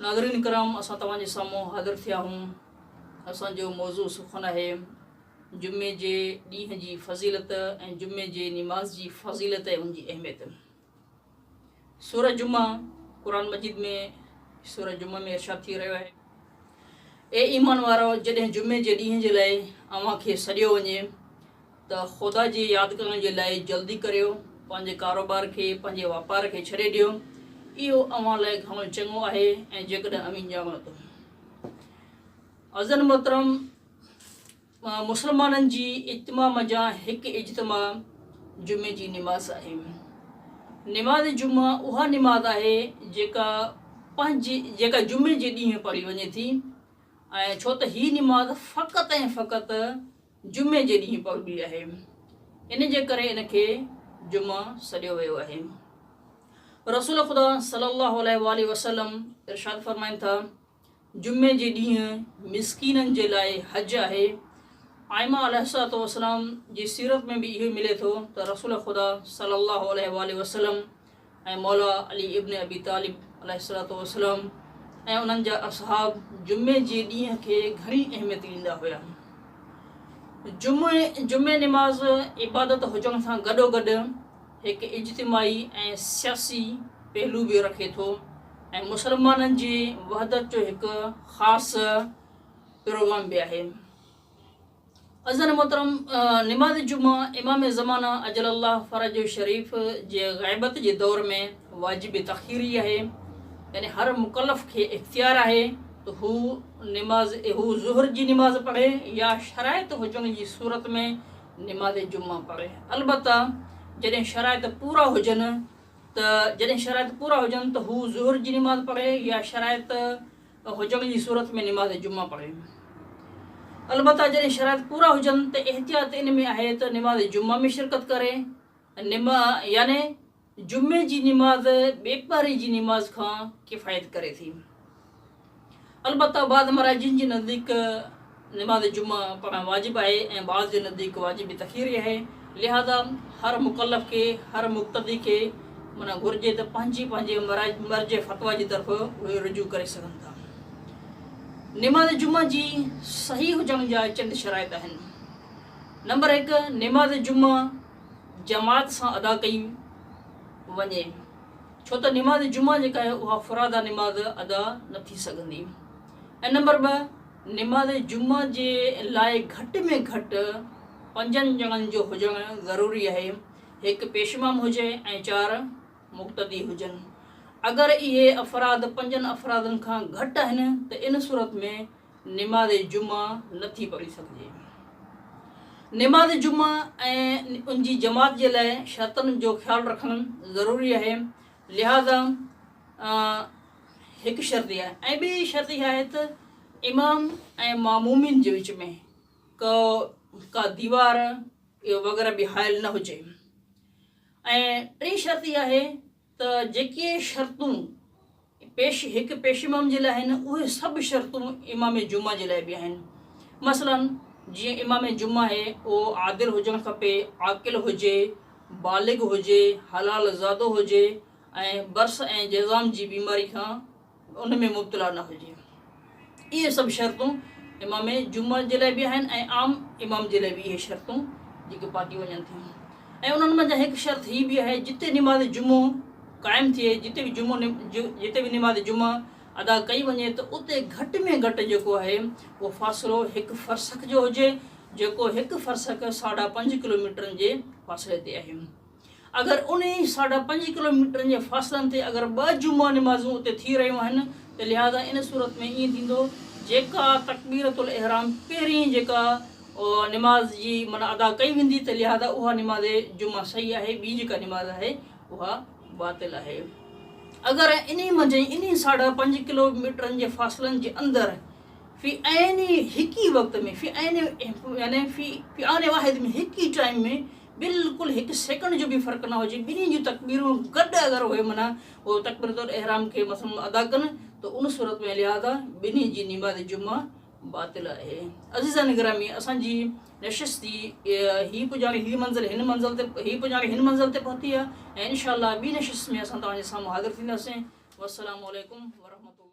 ناظرين ڪرام اسان توهان جي سامهون حاضر ٿيا هون اسان جو موضوع سخن آهي جمعي جي ڏينهن جي فضيلت ۽ جمعي جي نماز جي فضيلت ۽ ان جي اهميت سورة جمعه قرآن مجيد ۾ سورة جمعه ۾ ارشاد ٿي رهيو آهي اي ايمان وارو جڏهن جمعي جي ڏينهن جي لاء اوهان کي سڏيو وڃي ته خدا جي ياد ڪرڻ جي لاء جلدي ڪريو، پنهنجي ڪاروبار کي، پنهنجي واپار کي ڇڏي ڏيو، اهو اوهان لاء گهڻو چڱو آهي ۽ جيڪڏهن اوهين ڄاڻو ته عزيزن محترم مسلمانن جي اجتماع منجهان هڪ اجتماع جمعي جي نماز آهي. نماز جمعه اها نماز آهي جيڪا پنهنجي جيڪا جمعي جي ڏينهن پڙهي وڃي ٿي ۽ ڇو ته هي نماز فقط ۽ فقط جمعي جي ڏينهن پوندي آهي، ان جي ڪري ان کي جمعه سڏيو ويو آهي. رسول خدا صلي الله عليه واٰله وسلم ارشاد فرمائن ٿا، جمعي جي ڏينهن مسڪينن جي لاء حج آهي. آئمه عليه الصلوة والسلام جي سيرت ۾ به اهو ئي ملي ٿو ته رسول خدا صلي الله عليه واٰله وسلم ۽ مولا علي ابن ابي طالب عليه الصلوة والسلام ۽ انهن جا اصحاب جمعي جي ڏينهن کي گهڻي اهميت ڏيندا هيا. جمعي جمعي نماز عبادت هجڻ سان گڏوگڏ هڪ اجتماعي ۽ سياسي پهلو به رکي ٿو ۽ مسلمانن جي وحدت جو هڪ خاص پروگرام به آهي. عزيزان محترم نماز جمعه امام زمانه عجل الله فرج شريف جي غيبت جي دور ۾ واجب تاخيري آهي يعني هر مڪلف کي اختيار آهي ته هو نماز هو ظهر جي نماز پڙهي يا شرائط هجڻ جي صورت ۾ نماز جمعه پڙهي البته جڏهن شرائط پورا هجن ته جڏهن شرائط پورا هجن ته هو ظهر جي نماز پڙهي يا شرائط ته هجڻ جي صورت ۾ نماز جمعه پڙهيون. البته جڏهن شرائط پورا هجن ته احتياط ان ۾ آهي ته نماز جمعه ۾ شرڪت ڪري، نم يعني جمعي جي نماز ٻي پهري جي نماز کان ڪفايت ڪري ٿي. البته بعض مراجعين جي نزديڪ. نماز جمعه پڙهڻ واجب آهي ۽ بعض جي نزديڪ واجب تخيري آهي، لهذا هر مڪلف کي، هر مقتدي کي معنيٰ گهرجي ته پنهنجي پنهنجي مرجع فتويٰ جي طرف اهي رجوع ڪري سگهن ٿا. نماز جمعه جي صحيح هجڻ جا چند شرائط آهن. نمبر هڪ، نماز جمعه جماعت سان ادا ڪئي وڃي، ڇو ته نماز جمعه جيڪا آهي اها فرادا نماز ادا نه ٿي سگهندي. ۽ نمبر ٻه نماز جمعه جي لاء گهٽ ۾ گهٽ پنجن ڄڻن جو هجڻ ضروري آهي، هڪ پيش امام هجي ۽ چار مقتدي هجن. اگر اهي افراد پنجن افرادن کان گهٽ آهن ته ان صورت ۾ نماز جمعه نه ٿي پڙهي سگهجي. نماز جمعه ۽ ان جي جماعت جي لاء شرطن جو خيال رکڻ ضروري آهي لهذا هڪ شرط اها آهي ۽ ٻي شرط اها آهي ته امام ۽ معمومين جي وچ ۾ ڪو ڪا ديوار وغيره به حائل نه هجي ۽ ٽي شرط اها آهي ته جيڪي شرطون پيش هڪ پيش امام جي لاء آهن اهي سڀ شرطون امام جمعه جي لاء به آهن مثلا جيئن امام جمعه آهي اهو عادل هجڻ کپي عاقل هجي بالغ هجي حلال زادو هجي ۽ برس ۽ جذام جي بيماري کان ان ۾ مبتلا نه هجي. اهي سڀ شرطون امام جمعه جي لاء به آهن ۽ عام امام جي لاء به اهي شرطون جيڪي پاڪي وڃن ٿيون ۽ انهن منجهان هڪ شرط هي به آهي جتي نماز جمعو قائم ٿئي جتي به جمعو جتي به نماز جمعه ادا ڪئي وڃي ته اتي گهٽ ۾ گهٽ جيڪو آهي اهو فاصلو هڪ فرسخ جو هجي جيڪو هڪ فرسخ ساڍا پنج ڪلوميٽرن جي فاصلي تي آهي. اگر انهي ساڍا پنج ڪلوميٽرن جي فاصلن تي اگر ٻه جمعه نمازون اتي ٿي رهيون آهن ته لهذا ان صورت ۾ ائين ٿيندو جيڪا تڪبيرة الاحرام پهرين جيڪا نماز جي معنيٰ ادا ڪئي ويندي ته لهذا اها نماز جمعه صحيح آهي ٻي جيڪا نماز آهي اها باطل آهي اگر انهي منجهن انهي ساڍا پنج ڪلوميٽرن جي فاصلن جي اندر في عين هڪ ئي وقت ۾ في عين يعني في في آن واحد ۾ هڪ ئي ٽائيم ۾ بلڪل هڪ سيڪنڊ جو به فرق نه هجي ٻنهي جون تڪبيرون گڏ اگر اهي منع اهو تڪبيرت الاحرام کي مثلا ادا ڪن ته ان صورت ۾ لهذا ٻنهي جي نماز جمعه باطل آهي عزيزان گرامي اسان جي نشست جي هي پڄاڻي هي منزل هن منزل تي هي پڄاڻي هن منزل تي پهتي آهي ۽ انشاء الله ٻي نشست ۾ اسان توهان جي سامهون حاضر ٿينداسين والسلام عليڪم ورحمة الله